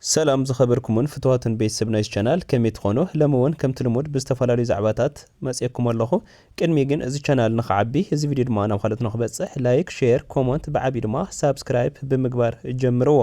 ሰላም ዝከበርኩሙን ፍቱዋትን ቤት ሰብ ናይዚ ቻናል ከመይ ትኮኑ ለሚ ውን ከምቲ ልሙድ ብዝተፋላለዩ ዛዕባታት መጽኤኩም ኣለኩ ቅድሚ ግን እዚ ቻናል ንክዓቢ እዚ ቪድዮ ድማ ናብ ካልኦት ንክበጽሕ ላይክ ሼር ኮሞንት ብዓብዩ ድማ ሳብስክራይፕ ብምግባር ጀምርዎ።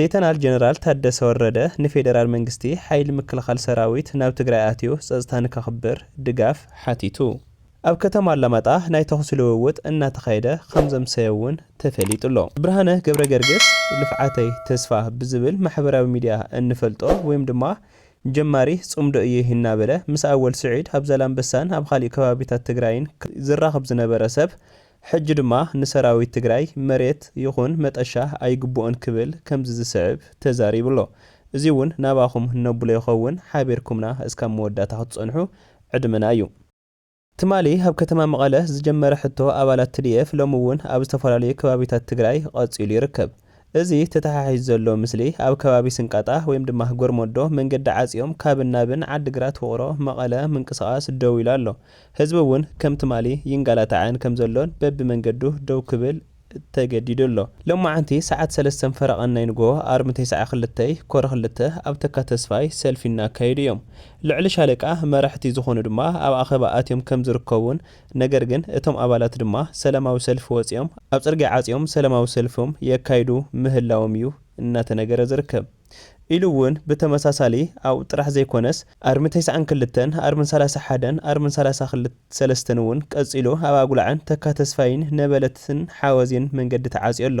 ሌተናል ጀነራል ታደሰ ወረደ ንፌደራል መንግስቲ ሓይሊ ምክልኻል ሰራዊት ናብ ትግራይ ኣትዩ ፀፅታ ንከኽብር ድጋፍ ሓቲቱ ኣብ ከተማ ኣላማጣ ናይ ተኹሲ ልውውጥ እናተኻየደ ከምዘምሰየ እውን ተፈሊጡ'ሎ። ብርሃነ ገብረገርግስ ልፍዓተይ ተስፋ ብዝብል ማሕበራዊ ሚድያ እንፈልጦ ወይም ድማ ጀማሪ ፅምዶ እየ እናበለ ምስ ኣወል ስዒድ ኣብ ዛላምበሳን ኣብ ኻሊእ ከባቢታት ትግራይን ዝራኸብ ዝነበረ ሰብ ሕጂ ድማ ንሰራዊት ትግራይ መሬት ይኹን መጠሻ ኣይግብኦን ክብል ከምዚ ዝስዕብ ተዛሪቡ ኣሎ። እዚ'ውን ናባኹም ነብሎ ይኸውን ሓቢርኩምና እስካብ መወዳእታ ክትጸንሑ ዕድመና እዩ። ትማሊ ኣብ ከተማ መቐለ ዝጀመረ ሕቶ ኣባላት tdf ሎሚ'ውን ኣብ ዝተፈላለዩ ከባቢታት ትግራይ ቐጺሉ ይርከብ። እዚ ተተሓሒዙ ዘሎ ምስሊ ኣብ ከባቢ ስንቃጣ ወይም ድማ ጎርሞዶ መንገዲ ዓጽዮም ካብን ናብን ዓዲ ግራት ውቕሮ መቐለ ምንቅስቓስ ደው ኢሉ ኣሎ። ህዝቢ እውን ከም ትማሊ ይንጋላታዕን ከም ዘሎን በቢ መንገዱ ደው ክብል ተገዲዱ ኣሎ። ሎማዕንቲ ሰዓት ሰለስተን ፈረቓን ናይ ንግሆ ኣርብ ንቴስዓ ክልተይ፣ ኮር ክልተ፣ ኣብ ተካ ተስፋይ ሰልፊ እናካየዱ እዮም። ልዕሊ ሻለቃ መራሕቲ ዝኾኑ ድማ ኣብ ኣኼባ ኣትዮም ከም ዝርከቡን ነገር ግን እቶም ኣባላት ድማ ሰላማዊ ሰልፊ ወፂኦም ኣብ ፅርግያ ዓፅዮም ሰላማዊ ሰልፊም የካይዱ ምህላዎም እዩ እናተነገረ ዝርከብ ኢሉ እውን ብተመሳሳሊ ኣብኡ ጥራሕ ዘይኮነስ ኣርሚ ተስዓን ክልተን ኣርሚ ሰላሳ ሓደን ኣርሚ ሰላሳ ሰለስተን እውን ቀፂሉ ኣብ ኣጉላዕን ተካ ተስፋይን ነበለትን ሓወዜን መንገዲ ተዓፅዮ ኣሎ።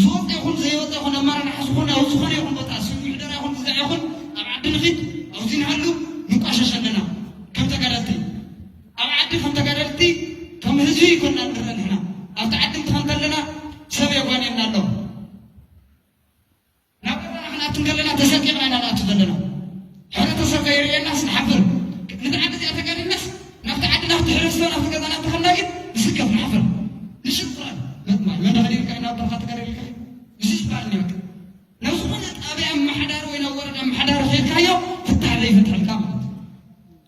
ዝወፀ ይኹን ዘይወፀ ይኹን ኣመራርሓ ዝኾነ ኣብ ዝኾነ ይኹን ቦታ ስብ ምሕደራ ይኹን ግዛዕ ይኹን ኣብ ዓዲ ንኺድ ኣብዚ ንሃሉ ንቋሸሽ ኣለና ከም ተጋዳልቲ ኣብ ዓዲ ከም ተጋዳልቲ ከም ህዝቢ ይኮና ንረአ ንሕና ኣብቲ ዓዲ እንትኸ እንተለና ሰብ የጓንየና ኣሎ ናብ ኤርትራ ክንኣቱ እንከለና ተሰቂቕና ኢና ንኣቱ ዘለና። ሕብረተሰብ ከይርእየናስ ንሓፍር። ነዛ ዓዲ እዚኣ ተጋዲልናስ ናብቲ ዓዲ ናብቲ ሕብረተሰብ ናብቲ ገዛና እንተኸድና ግን ንስከፍ ንሓፍር። ንሽፍራን መጥማይ መን ተኸዲንካ ናብ በረኻ ተጋዲልካ እዩ እዚ ዝበሃል እኒ በቃ ናብ ዝኾነ ጣብያ ኣመሓዳሪ ወይ ናብ ወረዳ ኣመሓዳሪ ከይድካዮ ፍታሕ ዘይፈትሐልካ ማለት እዩ።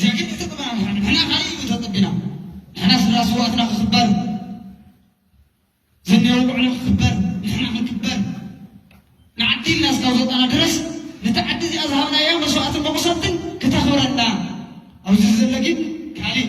ጀግንነት ተጠባቂ ንሕና ንሕና ካሊእ እዩ ተጸቢና ንሕና ስድራ ስውኣትና ክኽበር ዝንሄዎ ውዕሎ ክኽበር ንሕና ክንክበር ንዓዲ ኢልና እስካብ ዝወጻና ድረስ ነቲ ዓዲ እዚኣ ዝሃብናያ መስዋእትን መቑሰልትን ክተኽብረና ኣብዚ ዘሎ ግን ካሊእ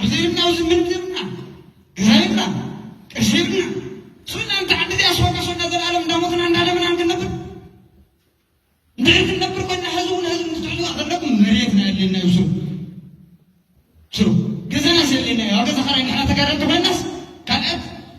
ኣብዘይብና ኣብዚ ምንድርና ገዛይብና ቀሽብና ሱና እንተ ዓዲ እዚኣ ሶና ሶና ዘለኣለም እንዳሞትና እንዳደምና ክንነብር እንድሕር ክንነብር ኮይና ህዝቢ እውን ህዝቢ ክትሕዙዋ ዘለኩም መሬትና የድልየና እዩ ስሩ ስሩ ገዛናስ የድልየና እዩ ኣብ ገዛ ኸራይ ንሕና ተጋደልቲ ኮይናስ ካልኣት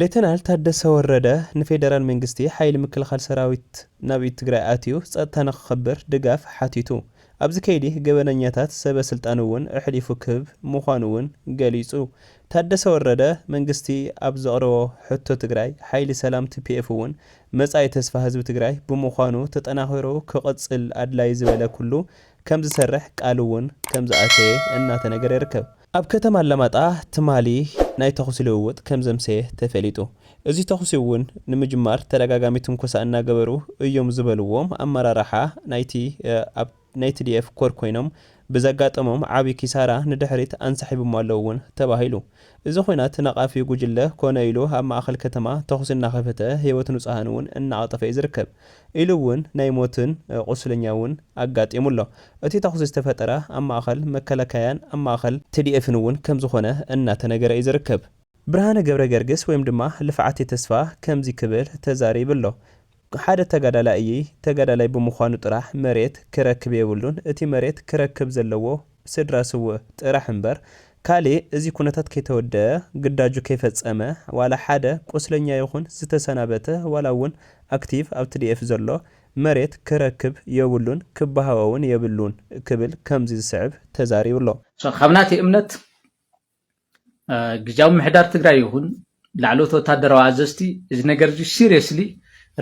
ሌተናል ታደሰ ወረደ ንፌደራል መንግስቲ ሓይሊ ምክልኻል ሰራዊት ናብ ትግራይ ኣትዩ ፀጥታ ንክኽብር ድጋፍ ሓቲቱ። ኣብዚ ከይዲ ገበነኛታት ሰበ ስልጣን እውን ኣሕሊፉ ክህብ ምዃኑ እውን ገሊፁ። ታደሰ ወረደ መንግስቲ ኣብ ዘቕረቦ ሕቶ ትግራይ ሓይሊ ሰላም tpf እውን መፃኢ ተስፋ ህዝቢ ትግራይ ብምዃኑ ተጠናኺሩ ክቕፅል ኣድላዪ ዝበለ ኩሉ ከምዝሰርሕ ቃል እውን ከምዝኣተየ እናተነገረ ይርከብ። ኣብ ከተማ ኣላማጣ ትማሊ ናይ ተኹሲ ልውውጥ ከም ዘምሰየ ተፈሊጡ። እዚ ተኹሲ እውን ንምጅማር ተደጋጋሚ ትንኮሳ እናገበሩ እዮም ዝበልዎም ኣመራርሓ ናይቲ ኣብ ናይ ትዲኤፍ ኮር ኮይኖም ብዘጋጠሞም ዓብዪ ኪሳራ ንድሕሪት ኣንሳሒቦሞ ኣለው እውን ተባሂሉ። እዚ ኹናት ነቓፊ ጉጅለ ኮነ ኢሉ ኣብ ማእኸል ከተማ ተኹሲ እናኸፈተ ህይወት ንፁሃን እውን እናቐጠፈ እዩ ዝርከብ። ኢሉ እውን ናይ ሞትን ቁስለኛ እውን ኣጋጢሙ ኣሎ። እቲ ተኹሲ ዝተፈጠረ ኣብ ማእኸል መከላከያን ኣብ ማእኸል ትዲኤፍን እውን ከምዝኾነ እናተነገረ እዩ ዝርከብ። ብርሃነ ገብረገርግስ ወይም ድማ ልፍዓቴ ተስፋ ከምዚ ክብል ተዛሪብ ኣሎ። ሓደ ተጋዳላይ እይይ ተጋዳላይ ብምዃኑ ጥራሕ መሬት ክረክብ የብሉን እቲ መሬት ክረክብ ዘለዎ፣ ስድራ ስውእ ጥራሕ እምበር ካሊእ እዚ ኩነታት ከይተወደኣ ግዳጁ ከይፈፀመ ዋላ ሓደ ቁስለኛ ይኹን ዝተሰናበተ ዋላ እውን ኣክቲቭ ኣብ ትዲኤፍ ዘሎ መሬት ክረክብ የብሉን ክበሃኦ እውን የብሉን ክብል ከምዚ ዝስዕብ ተዛሪቡ ኣሎ። ካብ ናተይ እምነት ግዝያዊ ምምሕዳር ትግራይ ይኹን ላዕለዎት ወታደራዊ ኣዘዝቲ እዚ ነገር እዚ ሲሪየስሊ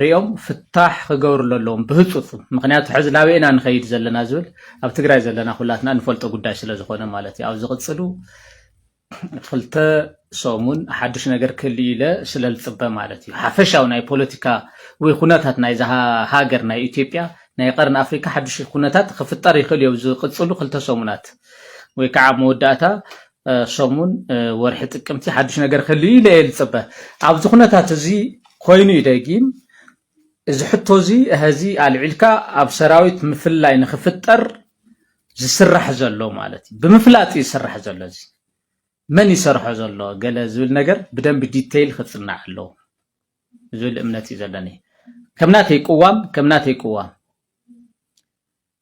ሪኦም ፍታሕ ክገብርሉ ኣለዎም ብህፁፅ። ምክንያቱ ሕዚ ናበይና ንኸይድ ዘለና ዝብል ኣብ ትግራይ ዘለና ኩላትና ንፈልጦ ጉዳይ ስለ ዝኾነ ማለት እዩ። ኣብ ዝቕፅሉ ክልተ ሰሙን ሓዱሽ ነገር ክህሉ ኢለ ስለ ዝፅበ ማለት እዩ። ሓፈሻዊ ናይ ፖለቲካ ወይ ኩነታት ናይዛ ሃገር ናይ ኢትዮጵያ ናይ ቀርኒ ኣፍሪካ ሓዱሽ ኩነታት ክፍጠር ይኽእል እዩ ዝቕፅሉ ክልተ ሰሙናት። ወይ ከዓ ኣብ መወዳእታ ሰሙን ወርሒ ጥቅምቲ ሓዱሽ ነገር ክህሉ ኢለ እየ ዝፅበ ኣብዚ ኩነታት እዚ ኮይኑ እዩ ደጊም እዚ ሕቶ እዚ እህዚ ኣልዒልካ ኣብ ሰራዊት ምፍላይ ንክፍጠር ዝስራሕ ዘሎ ማለት እዩ ብምፍላጥ እዩ ዝስራሕ ዘሎ እዚ መን ይሰርሖ ዘሎ ገለ ዝብል ነገር ብደንብ ዲተይል ክፅናዕ ኣለዎ ዝብል እምነት እዩ ዘለኒ ከምናተይ ቅዋም ከምናተይ ቅዋም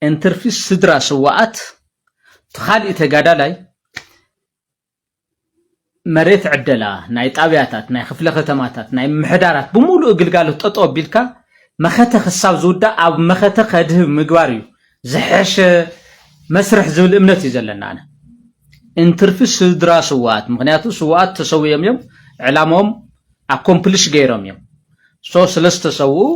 እንትርፊ ስድራ ስዋኣት ትኻሊእ ተጋዳላይ መሬት ዕደላ ናይ ጣብያታት ናይ ክፍለ ከተማታት ናይ ምሕዳራት ብሙሉኡ ግልጋሎት ጠጠው ኣቢልካ መኸተ ክሳብ ዝውዳእ ኣብ መኸተ ከድህብ ምግባር እዩ ዝሐሸ መስርሕ ዝብል እምነት እዩ ዘለና ኣነ እንትርፊ ስድራ ስዋኣት ምክንያቱ ስዋኣት ተሰውዮም እዮም ዕላምኦም ኣኮምፕልሽ ገይሮም እዮም so ስለዝተሰውኡ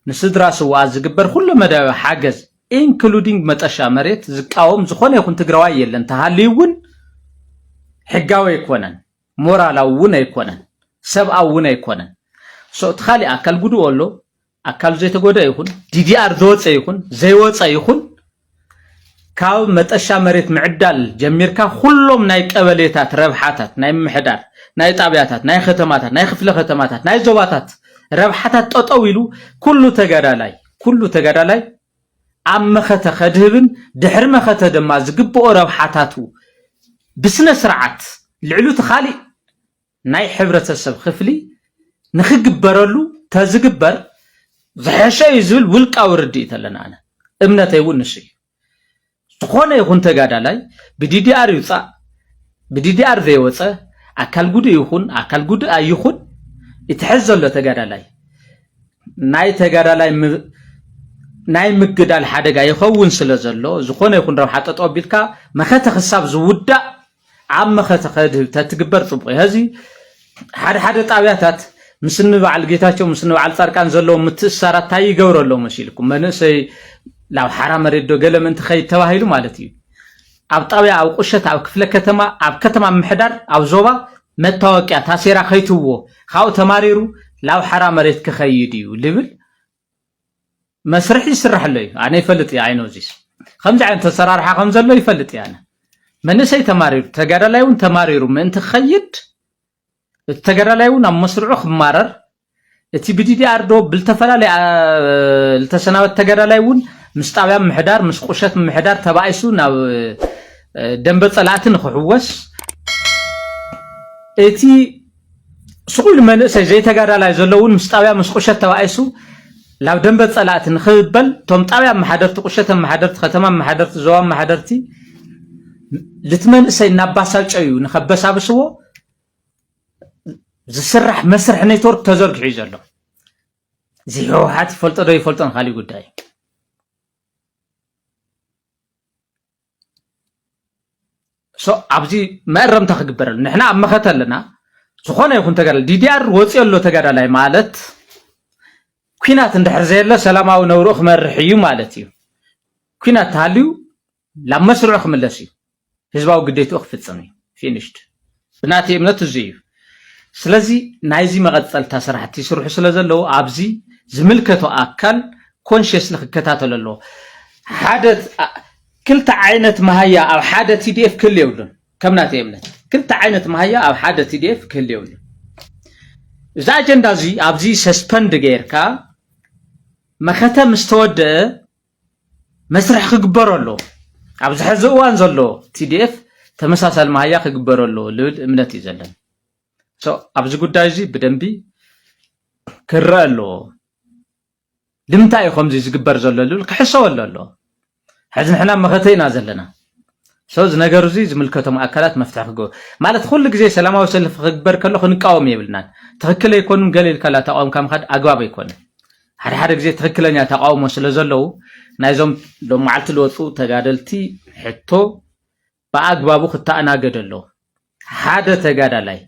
ንስድራ ስውኣት ዝግበር ኩለ መዳያዊ ሓገዝ including መጠሻ መሬት ዝቃወም ዝኾነ ይኹን ትግራዋይ የለን ተሃልዩ እውን ሕጋዊ ኣይኮነን ሞራላዊ እውን ኣይኮነን ሰብኣዊ እውን ኣይኮነን so እቲ ካሊእ ኣካል ጉድኡ ኣሎ ኣካሉ ዘይተጎድኣ ይኹን ዲዲኣር ዝወፀ ይኹን ዘይወፀ ይኹን ካብ መጠሻ መሬት ምዕዳል ጀሚርካ ኩሎም ናይ ቀበሌታት ረብሓታት ናይ ምሕዳር ናይ ጣብያታት ናይ ከተማታት ናይ ክፍለ ከተማታት ናይ ዞባታት ረብሓታት ጠጠው ኢሉ ኩሉ ተጋዳላይ ኩሉ ተጋዳላይ ኣብ መኸተ ከድህብን ድሕሪ መኸተ ድማ ዝግብኦ ረብሓታቱ ብስነ ስርዓት ልዕሉ እቲ ካሊእ ናይ ሕብረተሰብ ክፍሊ ንክግበረሉ ተዝግበር ዝሐሸ እዩ ዝብል ውልቃዊ ርድኢት ኣለኒ ኣነ እምነተይ እውን ንሱ እዩ ዝኾነ ይኹን ተጋዳላይ ብዲዲኣር ይውፃእ ብዲዲኣር ዘይወፀ ኣካል ጉዱእ ይኹን ኣካል ጉዱእ ኣይኹን እቲ ሕዚ ዘሎ ተጋዳላይ ናይ ተጋዳላይ ናይ ምግዳል ሓደጋ ይኸውን ስለ ዘሎ ዝኾነ ይኹን ረብሓ ጠጠው ቢልካ መኸተ ክሳብ ዝውዳእ ኣብ መኸተ ከድህብ ተትግበር ጽቡቕ እዩ። ሀዚ ሓደ ሓደ ጣብያታት ምስኒ በዓል ጌታቸው ምስኒ በዓል ጻድቃን ዘለዎም ምትእስሳራት ታይ ይገብረሎም መሲልኩም መንእሰይ ናብ ሓራ መሬት ዶ ገለ ምእንቲ ከይድ ተባሂሉ ማለት እዩ ኣብ ጣብያ ኣብ ቁሸት ኣብ ክፍለ ከተማ ኣብ ከተማ ምሕዳር ኣብ ዞባ መታወቅያ ታሴራ ከይትዎ ካብኡ ተማሪሩ ናብ ሓራ መሬት ክኸይድ እዩ ልብል መስርሕ ይስራሕ ኣሎ እዩ ኣነ ይፈልጥ እየ ኣይኖ ዚስ ከምዚ ዓይነት ተሰራርሓ ከም ዘሎ ይፈልጥ እየ ኣነ መንእሰይ ተማሪሩ ተጋዳላይ እውን ተማሪሩ ምእንቲ ክኸይድ እቲ ተጋዳላይ እውን ኣብ መስርዑ ክማረር እቲ ብዲዲኣር ዶ ብዝተፈላለየ ዝተሰናበት ተጋዳላይ እውን ምስ ጣብያ ምሕዳር ምስ ቁሸት ምሕዳር ተባኢሱ ናብ ደንበ ፀላእቲ ንክሕወስ እቲ ስቑል መንእሰይ ዘይተጋዳላይ ዘሎ እውን ምስ ጣብያ ምስ ቁሸት ተባኢሱ ናብ ደንበ ፀላእቲ ንክበል እቶም ጣብያ ኣመሓደርቲ ቁሸት ኣመሓደርቲ ከተማ ኣመሓደርቲ ዞባ ኣመሓደርቲ ልቲ መንእሰይ እናባሳጨዩ ንከበሳብስዎ ዝስራሕ መስርሕ ኔትወርክ ተዘርጊሑ እዩ ዘሎ እዚ ህወሓት ይፈልጦ ዶ ይፈልጦን ካሊእ ጉዳይ እዩ ኣብዚ መእረምታ ክግበረሉ ንሕና ኣብ መኸተ ኣለና ዝኾነ ይኹን ተጋዳላይ ዲዲኣር ወፂኦ ኣሎ ተጋዳላይ ማለት ኩናት እንድሕር ዘየሎ ሰላማዊ ነብርኡ ክመርሕ እዩ ማለት እዩ ኩናት ተሃልዩ ናብ መስርዑ ክምለስ እዩ ህዝባዊ ግዴትኡ ክፍፅም እዩ ፊኒሽድ እቲ ናተይ እምነት እዙይ እዩ። ስለዚ ናይዚ መቐፀልታ ስራሕቲ ይስርሑ ስለዘለዉ ኣብዚ ዝምልከቶ ኣካል ኮንሽስሊ ክከታተሎ ኣለዎ። ሓደ ክልተ ዓይነት መሃያ ኣብ ሓደ ቲዲኤፍ ክህሉ የብሉን። ከም ናተይ እምነት ክልተ ዓይነት መሃያ ኣብ ሓደ ቲዲኤፍ ክህሉ የብሉን። እዚ ኣጀንዳ እዚ ኣብዚ ሰስፐንድ ገይርካ መኸተ ምስ ተወደአ መስርሕ ክግበሮ ኣለዎ። ኣብዚ ሕዚ እዋን ዘሎ TDF ተመሳሳሊ መሃያ ክግበሮ ኣለዎ ልብል እምነት እዩ ዘለኒ። ኣብዚ ጉዳይ እዚ ብደንቢ ክረአ ኣለዎ። ልምንታይ እዩ ከምዚ ዝግበር ዘሎ ልብል ክሕሰበሉ ኣለዎ። ሕዚ ንሕና መኸተ ኢና ዘለና። ሰው እዚ ነገር እዚ ዝምልከቶም ኣካላት መፍትሒ ክገብሩ ማለት ኩሉ ግዜ ሰላማዊ ሰልፊ ክግበር ከሎ ክንቃወም የብልናን። ትኽክል ኣይኮኑን ገለ ኢልካላ ተቃውምካ ምኻድ ኣግባብ ኣይኮነን። ሓደ ሓደ ግዜ ትክክለኛ ተቃውሞ ስለ ዘለዉ ናይዞም ሎም መዓልቲ ዝወፁ ተጋደልቲ ሕቶ ብኣግባቡ ክተኣናገደ ኣለዎ። ሓደ ተጋዳላይ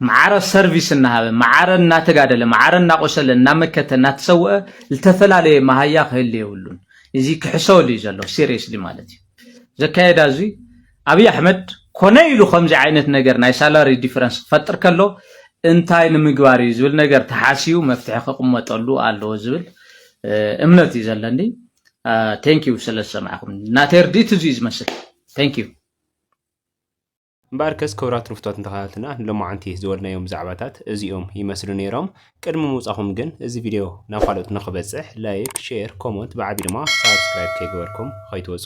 መዓረ ሰርቪስ እናሃበ መዓረ እናተጋደለ መዓረ እናቆሰለ እናመከተ እናተሰወአ ዝተፈላለየ መሃያ ክህል የብሉን። እዚ ክሕሰበሉ እዩ ዘሎ ሲሪየስሊ ማለት እዩ ዘካየዳ እዙይ ኣብይ ኣሕመድ ኮነ ኢሉ ከምዚ ዓይነት ነገር ናይ ሳላሪ ዲፈረንስ ክፈጥር ከሎ እንታይ ንምግባር እዩ ዝብል ነገር ተሓሲቡ መፍትሒ ክቕመጠሉ ኣለዎ ዝብል እምነት እዩ ዘለኒ ቴንክ ዩ ስለ ዝሰማዕኹም ናተይ ርድኢት እዚ እዩ ዝመስል ቴንክ ዩ እምበኣርከስ ክብራት ርፍቶት እንተኸታተልና ንሎማዓንቲ ዝወልናዮም ዛዕባታት እዚኦም ይመስሉ ነይሮም ቅድሚ ምውፃኹም ግን እዚ ቪድዮ ናብ ካልኦት ንኽበፅሕ ላይክ ሼር ኮመንት ብዓቢ ድማ ሳብስክራይብ ከይገበርኩም ኸይትወፁ